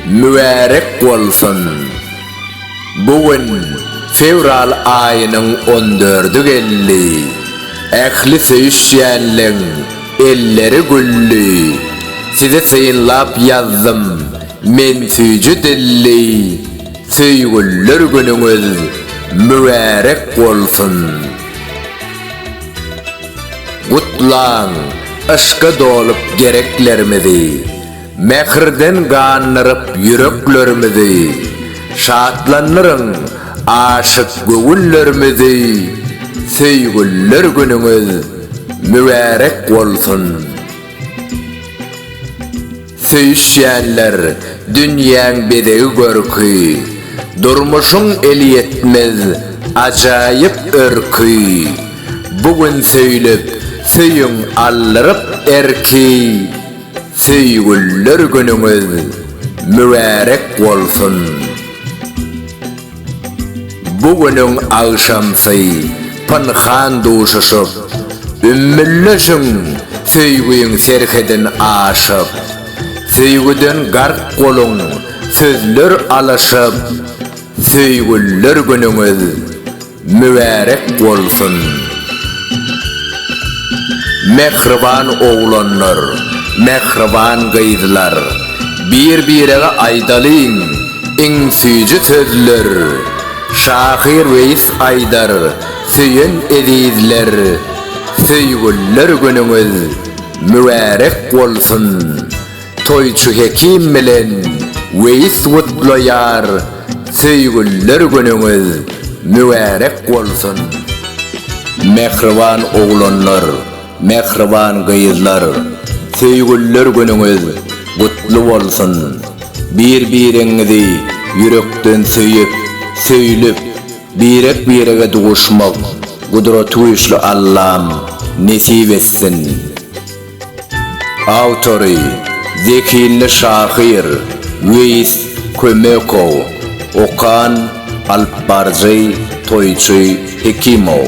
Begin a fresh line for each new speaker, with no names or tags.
Mübärek bolsun! Bu gün fewral aýynyň on dördi geldi. Ähli söýüşýänleň elleri gülli. Sizi synlap ýazdym men süýji dilli. Söýgüller günüňiz mübärek bolsun! Gutlaň yşka dolup gereklerimizi, Mähirden gandyryp ýüreklerimizi, Şatlandyryň aşyk göwünlerimizi, Söýgüller günüňiz mübärek bolsun! Söýüşýänler, dünýäň bezegi-görki, Durmuşyň elýetmez ajaýyp örki. Bu gün söýlüp, söýüň aldyryp erki, Söýgüliler günüňiz mübärek bolsun! Bu günüň agşamsy pynhan duşuşyp, ümmülleşiň Söýgiň serhedin aşyp, Söýgüden gark boluň sözler alyşyp, Söýgüliler günüňiz mübärek bolsun! Mähriban oglanlar, mähriban gyzlar, Bir-birege aýdalyň, Iň süýji sözler Şahyr Weýis Aýdar Söýen ezizler Söýgüller günüňiz mübärek bolsun Toýçy Hekim bilen Weýis gutlaýar Söýgüller günüňiz mübärek bolsun Mähriban oglanlar. Mähriban gyzlar, söýgüliler günüňiz gutly bolsun! Bir-biriňizi ýürekden söýüp, söýlüp, birek-birege duşmak Gudratygüýçli Allam nesip etsin! Awtory, zehinli şahyr Weýis Kömekow, okan, alypbaryjy Toýçy Hekimow.